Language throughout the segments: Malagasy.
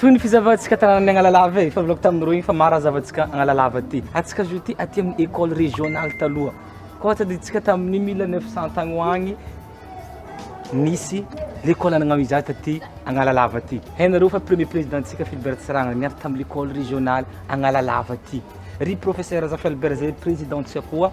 Toy ny fizavantsika tanànan'ny Analalava e, fa volako tamin'ireo iny fa maro raha zavantsika Analalava aty. Atsika zao ity aty amin'ny école régionale taloha. Koa tadidintsika tamin'ny 1900 tagny ho agny nisy l'école anagnao izaho taty Analalava aty. Hainareo fa premier présidentsika Philbert Tsiranga niady tamin'ny l'école régionale Analalava aty. Ry professeur Razafialbert zay présidentsika koa.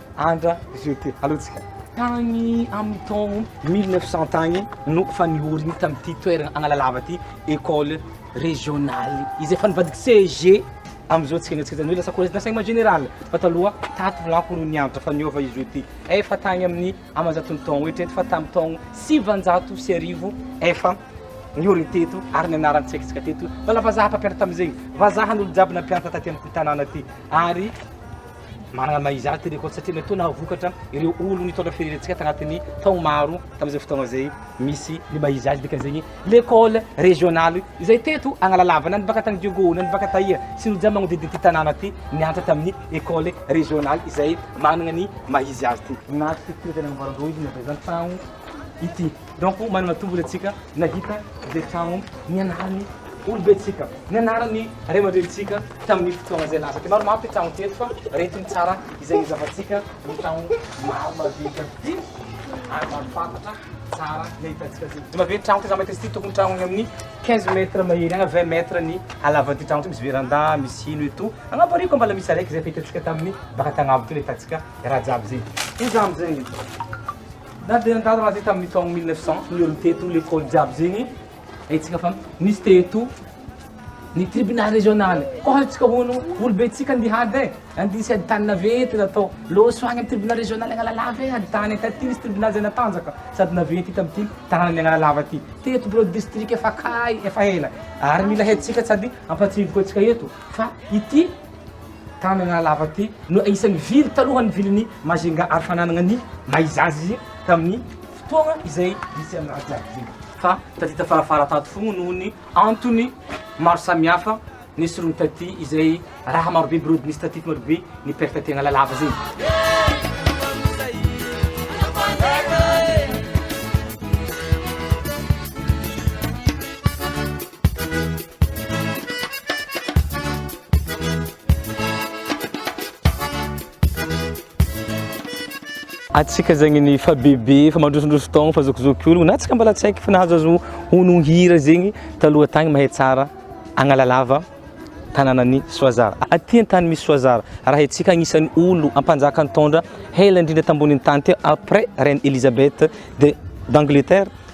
Andra jeté alohantsika tagny amin'ny taogno mille neuf cent tagny no efa nihorigny tamin'ity toeragna Analalava ty école régionale izay efa nivadika CEG amizao tsika niezaka zany hoe lasa collège d'enseignement général fa taloha tato lako no niantra fa niova izy io ty efa tagny amin'ny amanjato ny taogno eritrereto fa tamin'ny taogno sivanjato sy arivo efa nihorigny teto ary ny anarany tsy haintsika teto fa la vazaha mpampianatra tamin'izegny vazaha ny olo jiaby nampianatra taty amin'ity tanàna ty ary Manana maha izy azy ity record satria mety ho nahavokatra ireo olony nitondra firenentsika tanatin'ny taogno maro tamin'izay fotoagna izay misy ny maha izy azy dikan'izegny l'école régionale izay teto Agnalalavana ny baka tany Diogo na ny baka taia sy ny jiaby magnodidina ity tanàna ty nianatra tamin'ny école régionale izay managna ny maha izy azy ty. Nahazo fitsiry izay nagnamboaran-droa izy navy zany tagno ity. Donc manana tombony antsika nahita izay trano nianaran'ny olobentsika, nianaran'ny ray aman-drenintsika tamin'ny fotoana izay lasa. Dia maromaro ity trano ity eto fa reto ny tsara izay nizavantsika ny trano maro madinika ity ary marim-pantatra tsara ny ahitantsika azy. Dia mabe ny trano ity za mahita izy ity tokony trano any amin'ny 15 mètres mahery agny 20 mètres ny halavan'ity trano ity misy veranda misy hino eto. Agnaboariko ambala misy araiky izay fa hitantsika tamin'ny baka tagnavo ity le hitantsika raha jiaby izay. Hoy za amin'izay. Na dia nandalo raha zay tamin'ny taogno mille neuf cent ny olo teto, lekôly jiaby zegny haintsika fa nisy teto ny tribunal regionaly koa haintsika hono olo be tsika andihy ady e, andihy sy ady tany naventy natao loso agny amin'ny tribunal regionaly Analalava e, ady tany taty nisy tribunal zay natanjaka sady naventy tamin'ity tananan'ny Analalava ty, teto birao distrika efa kay efa ela ary mila haintsika sady ampatsiahivo koa antsika eto fa ity Tanana lava ity no anisan'ny vily talohan'ny vilin'i Majinga ary fananana ny maha izy azy izy tamin'ny fotoana izay nisy an'i Raja iny. Fa tadita farafara tato fogna noho ny antony maro samihafa nesoriny taty izay raha marobe birody nisy taty fa marobe ny perte tegna lalava zegny. Atsika zegny ny fa bebe fa mandrosondroso taogno fa zokizoky ologno na tsika mbala tsy haiky fa nahazo azo hono hira zegny taloha tagny mahay tsara Agnalalava tananan'i Soazara aty an-tany misy Soazara raha haintsika agnisan'ny olo ampanjaka nitondra hela indrindra tambonin'ny tany teo après reine Elisabeth de d'Angleterre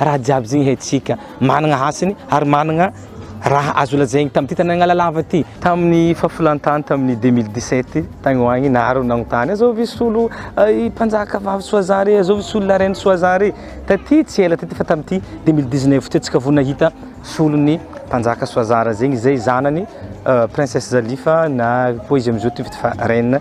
Raha jiaby zegny haintsika managna hasiny ary managna raha azo lazaigny tamin'ity tany Analalava ty. Tamin'ny fahafolantany tamin'ny deux mille dix-sept tagny ho agny naharo nagnontany azao ve solo i mpanjaka vavy Soazan re azao ve solo la reine Soazan re taty tsy ela taty fa tamin'ity deux mille dix-neuf ty antsika vao nahita solon'ny mpanjaka Soazara zegny izay zanany princesse Zalifa na koa izy amizao ty vita fa reine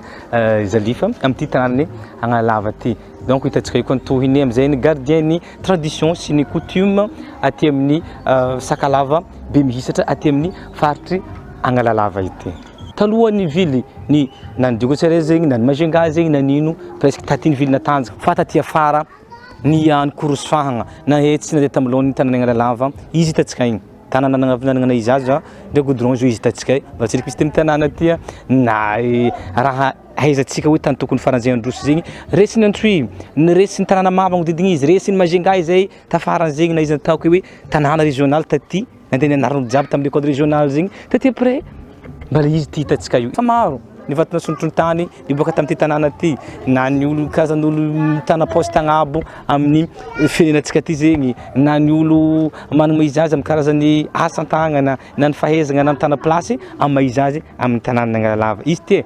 Zalifa amty tanànan'i Analalava ty donc hitantsika eo koa ny tohiny amizay ny gardien-ny tradition sy ny coutume aty amin'ny Sakalava be mihisatra aty amin'ny faritry Analalava ity. Talohan'ny ville ny na ny Digo Ceres zegny na ny Majunga zegny na ny ino presque taty ny ville Natanjaka fa taty afara ny an'i Korosy Fahagna na etsy na dia tamin'ny laoniny tanàn'i Analalava izy hitantsika igny. Tanana nagnavinanagna izy aza ndray goudron zao izy hitantsika mba tsy misy teny tanana aty a na raha ahaizantsika hoe tany tokony faran'izay androso zegny resin'i Antsohihy ny resin'ny tanàna maro magnodidina izy resin'i Majunga izay tafara an'zegny na izy ataoko hoe tanàna regionaly taty nandeha nianarana jiaby tamin'ny école regionaly zegny taty après Mba ilay izy ity hitantsika io, efa maro ny vato nasontorontany niboaka tamin'ity tanàna ity, na ny olo karazan'olo mitana poste agnabo amin'ny firenenantsika ity zegny, na ny olo manana maha izy azy amin'ny karazan'ny asa an-tagnana, na ny fahaizagna na mitana place amin'ny maha izy azy amin'ny tanànan'Analalava. Izy ity e!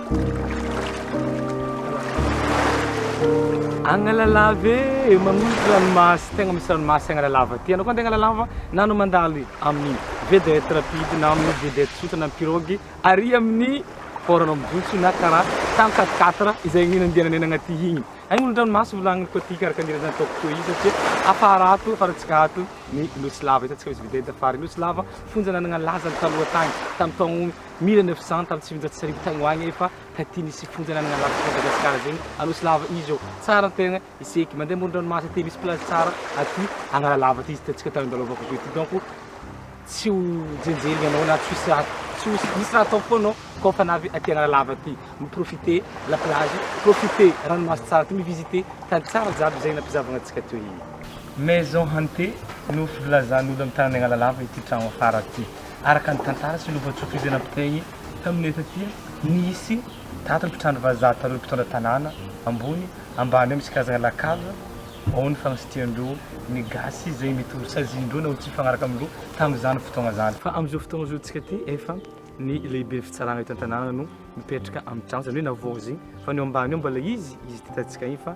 Agnalalava e, magnolotra ranomasy, tegna misy ranomasy Agnalalava aty. Anao koa andeha Agnalalava na anao mandalo amin'ny vedette rapide na amin'ny vedette tsotra na pirogue, ary amin'ny port anao mijotso na kara tany quatre quatre izay ny nandehananay nagnaty igny. Agnolotra ranomasy volagniny koa ty kara kara zany ataoko toy izy satria afara ato, afarantsika ato ny Nosy lava, hitantsika misy vedette afara ny Nosy lava, fonjan'Anagnalaza taloha tagny, tamy taogno. 1900 tam tsivinjato sy arivo tagny ho agny efa taty nisy fonja nanagna lafy tao Madagasikara zegny Anosy lava izy ô tsara ny tegna iseky mandeha amoron dranomasy aty misy plage tsara aty Analalava aty izy hitantsika tany andalova ko aty donc tsy ho jenjegny anao na tsisy raha tsy ho misy raha atao fô anao kô fa navy aty Analalava aty mi profiter la plage profiter ranomasy tsara aty mi visiter tany tsara jiaby zegny nampizavagna antsika teo igny. Maison hantée no filazan'olo am tanany Analalava ity tragno afara ty. Araka ny tantara sy lovan-tsofijena mpiteny tamin'ny hetsi aty, nisy tato ny mpitrandraka vazaha tamin'ireo mpitondra tanàna ambony ambany hoe misy karazana lakazo ao ny fagnasitrian-dreo ny gasy izay mety ho sazian-dreo na ho tsy mifagnaraka amin-dreo tamin'izany fotoagna zany. Fa amin'izao fotoagna izao tsika ty efa ny lehiben'ny fitsaragna eto an-tanàna no mipetraka amin'ny tragno, zany hoe navaozigny, fa ny ao ambany ao mbola izy, izy ty tantsintsika igny fa.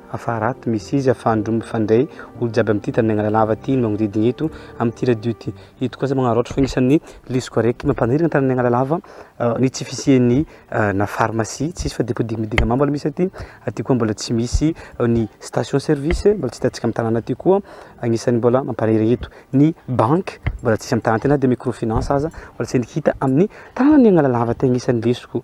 Afa raty misy izy afa ndro mifandray olo jiaby amty tany Mianala lava ty no magnodidigny eto amty radio ty eto koa za magnaraotra fa agnisan'ny lesoko araiky mampanirigna tany Mianala lava ny tsy fisian'ny na pharmacie tsisy fa depot dignidigna mamo aloha misy aty aty koa mbola tsy misy ny station service mbola tsy hitantsika am tanàna aty koa agnisan'ny mbola mampanirigny eto ny banky mbola tsisy am tanàna ty na de micro finance aza mbola tsy hita amin'ny tanàna Mianala lava ty agnisan'ny lesoko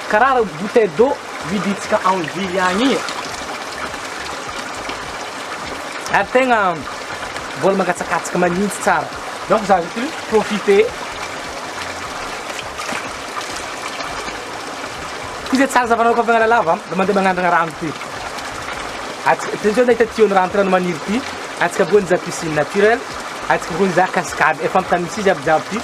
Karaha bouteille d'eau vidintsika en ville agny igny e! Ary tegna mbola mangatsakatsaka manintsy tsara donc za zao ty profiter ty zay tsara zavanao koa miala lava mba mandeha magnandragna rano ty atsika ty zao nahita tuyau ny rano ty rano maniry ty atsika voan'ny za piscine naturelle atsika voan'ny za cascade efa ampy tany misy izy aby jiaby ty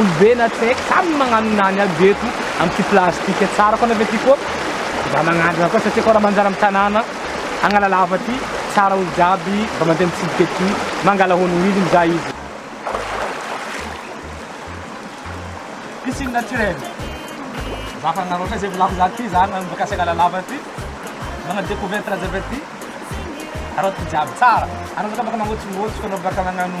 Olobe na tsy haiko samy magnano nany aby ve eto am ty plastique tsara fona ve ty ko mba magnandrana koa satria ko ra manjary am tanàna Analalava ty tsara olo jiaby mba mandeha mitsidika ety mangala honogno izy mizaha izy piscine naturel za fa nareo zay volako za ty za nanomboka asy Analalava ty nana decouverte raha jiaby aty areo ty jiaby tsara anao zao ka baka mangotsongotsoko anao baka magnano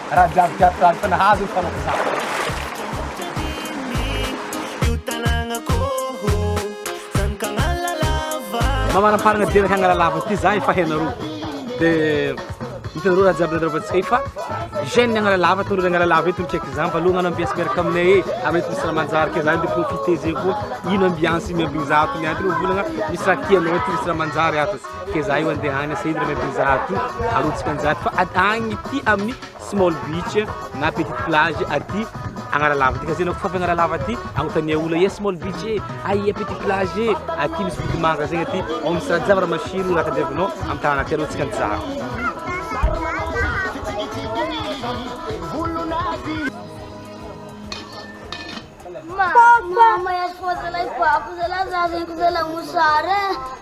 Raha jiaby jiaby fa aza nahazo ny fanao Mba manamparana dia hangala lava ity za efa henareo dia hitanareo raha jiaby nandravantsika efa jeune hangala lava tondro hangala lava eto check za mba lohana ambiance miaraka aminay e avy eto misy ramanjary kay za ndeha profiter zegny koa ino ambiance miambigny za ato miady reo volagna misy raha tianao aty misy ramanjary ato Ke za io andeha any Saint Irene Avenue zato arotsaka anjara fa at agny ty amin'ny small beach na petite plage aty Agnaralava ty ka zay anao kofafa Agnaralava aty agnontania olo aia small beach e aia petite plage e aty misy vodimanka zegny aty ao misy rajava ramasilo raha tadiavinao amy tanàna aty arotsaka anjara Papa, mama ya sifo zalahy papa zalahy za zegny zalahy mosary e.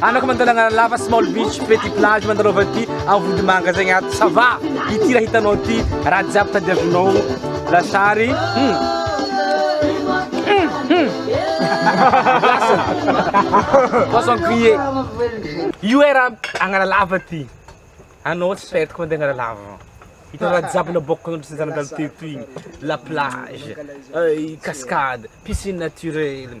Anako mandalagna lava small beach petit plage mandalova ty avody manga zegny ato ça va ity raha hitanao ty raha jiaby tadiavinao lasary hmm. Hmm, hmm. poisson grillé io e raha agnana lava ty anao tsy faitiko mandeha agnana lava hitanao raha jiaby naboako anao tsy zanadalo teto igny la plage euh, cascade piscine naturelle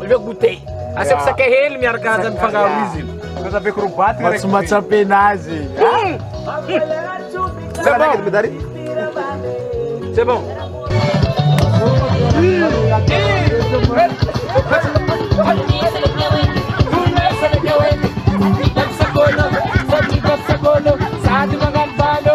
Aleo goûter. Asiako sakay hely miaraka aza mifangaro izy. Aza be crobaty rek. Tsy matsapena azy. C'est bon. C'est bon. Sady magnano valo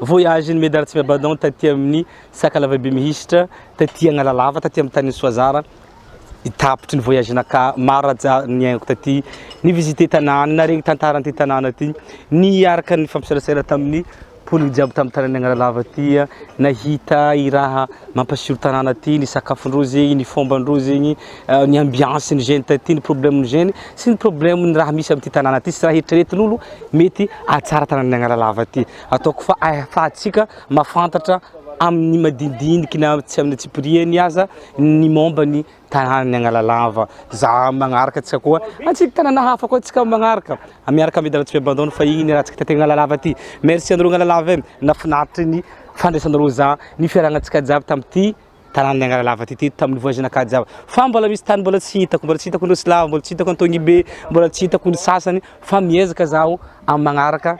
Voyage ny Medard Tsiabadon taty amin'ny Sakalava be mihisitra, taty Analalava, taty amin'ny tanin'i Soazara, ny tapitry ny voyage naka maro niainako taty, ni visiter tanàna, naharegny tantara an'ity tanàna ty, niaraka nifampiserasera tamin'ny mponina jiaby tamin'ny tanàn'i Analalava ty, nahita i raha mampasiro tanàna ty, ny sakafon-drozy, ny fomban-drozy, ny ambiance-n'ny jeunes taty, ny problème-n'ny jeunes sy ny problème-n'ny raha misy amin'ity tanàna ty sy raha eritreretin'olo mety hahatsara tanàn'i Analalava ty. Ataoko fa ahafahantsika mahafantatra amin'ny madinidiniky na tsy amin'ny antsipirihany aza ny momba ny tanànan'i Analalava. Za magnaraka antsika koa antsika tanàna hafa koa antsika magnaraka. Miaraka amin'ny Dalatsipy Abandon fa iny raha antsika taty Analalava aty. Merci anareo Analalava e, nahafinaritra ny fandraisanareo za, ny fiarahanantsika jiaby tamin'ity tanànan'i Angaralava ity teto tamin'ny voyage nakajy aho fa mbola misy tany mbola tsy hitako mbola tsy hitako ny Silava mbola tsy hitako Antonibe mbola tsy hitako ny sasany fa miezaka zaho amin'ny magnaraka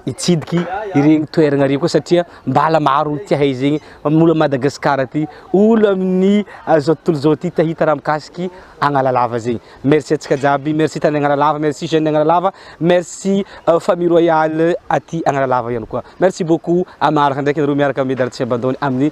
hitsidiky ireny toerana ireny koa satria mbala maro ny tiahay zegny molo Madagascar aty olo amin'ny ah, zao tontolo zao ty te hita raha mikasiky Agnalalava zegny merci atsika jiaby merci tany Agnalalava merci jeune Agnalalava merci euh, famille royale aty Agnalalava ihany koa merci beaucoup amin'ny magnaraka ndraiky nareo miaraka amin'ny Dartsy Abandone amin'ny